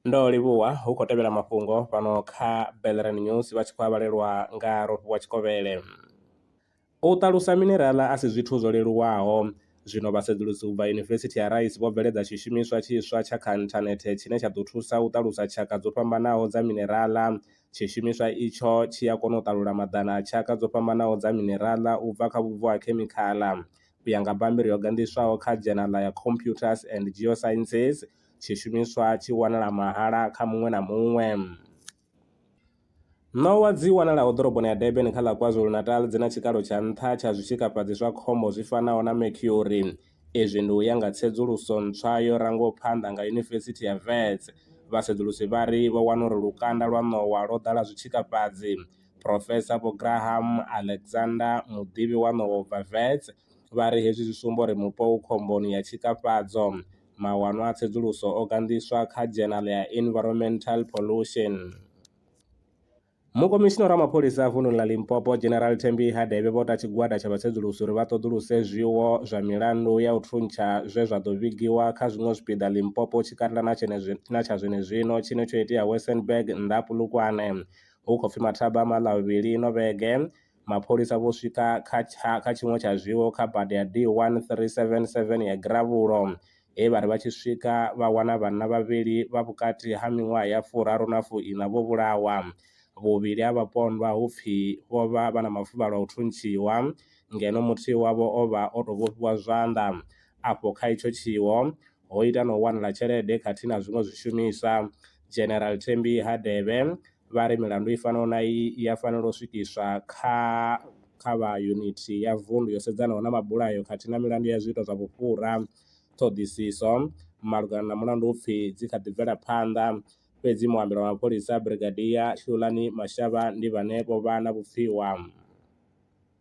ndo livhuwa hu khou tevhela mafhungo fhano kha Bellerin News vha tshi khou a vhalelwa nga Rofhiwa Tshikovhele. U ṱalusa mineraḽa a si zwithu zwo leluwaho, zwino vhasedzulusi u bva Yunivesithi ya Rice vho bveledza tshishumiswa tshiswa tsha kha nthanethe tshine tsha ḓo thusa u ṱalusa tshaka dzo fhambanaho dza mineraḽa Tshi shumiswa itsho tshi a kona u ṱalula maḓana a tshaka dzo fhambanaho dza mineraḽa u bva kha vhubvo ha khemikhala. U ya nga bammbiri yo ganḓiswaho kha dzhenala ya Computers and Geosciences, tshishumiswa tshi wanala mahala kha muṅwe na muṅwe. Ṋowa dzi wanalaho ḓoroboni ya Durban kha ḽa KwaZulu-Natal dzi na tshikalo tsha nṱha tsha zwitshikafhadzi zwa khombo zwi fanaho na mercury, Izwi ndi u ya nga tsedzuluso ntswa yo rangwaho phanḓa nga Yunivesithi ya Wits. Vhasedzulusi vha ri vho wana uri lukanda lwa ṋowa lwo ḓala zwitshikafhadzi. Phurofesa Vho Graham Alexander, muḓivhi wa ṋowa u bva Wits, vha ri hezwi zwi sumba uri mupo u khomboni ya tshikafhadzo. Mawanwa a tsedzuluso o ganḓiswa kha dzhenala ya Environmental Pollution. Mukomishinara wa mapholisa a vununi ḽa Limpopo, General Thembi Hadebe vho ta tshigwada tsha vhasedzulusi uri vha ṱoḓuluse zwiwo zwa milandu ya u thuntsha zwe zwa ḓo vhigiwa kha zwiṅwe zwipiḓa Limpopo tshikanda na tsha zwenezwino tshine tsho itea Wesenberg nnḓa ha Polokwane hu khou pfi mathaba a Malavhuvhili ino vhege Mapholisa vho swika kha tsha kha tshiṅwe tsha zwiwo kha bada ya D1377 ya Gravhulo he vha ri vha tshi swika vha wana vhanna vhavhili vha vhukati ha miṅwaha ya furaru na fuiṋa vho vhulawa. Vhuvhili ha vhapondwa hu pfi vho vha vha na mafuvhalo a u thuntshiwa ngeno muthihi wavho o vha o tou vhofhiwa zwanḓa. Afho kha itsho tshiwo ho ita na u wanala tshelede khathihi na zwiṅwe zwishumiswa. General Thembi Hadebe vha ri milandu i fanaho na iyi i ya fanela u swikiswa kha kha vha yunithi ya vundu yo sedzanaho na mabulayo khathihi na milandu ya zwiito zwa vhufhura. Ṱhoḓisiso malugana na mulandu u pfi dzi kha ḓi bvela phanḓa, fhedzi muambeli wa mapholisa Brigadier Hlulani Mashaba ndi vhane vho vha na vhupfiwa.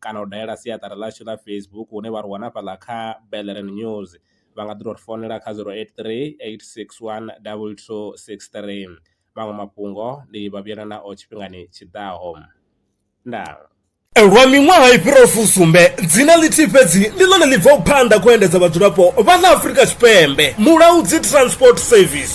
kana u dalela siaṱari ḽashu ḽa Facebook hune vha ri wana hafhaḽa kha Bellren News, vha nga ḓi tou ri founela kha zero eight three eight six one double two six three. Maṅwe mafhungo ndi vha vhuyela nao tshifhingani tshi ḓaho. Ndaa. Lwa miṅwaha i fhiraho fusumbe, dzina ḽithihi fhedzi ndi ḽone ḽi bvaho phanḓa khou endedza vhadzulapo vha ḽa Afrika Tshipembe, Mulaudzi Transport Service.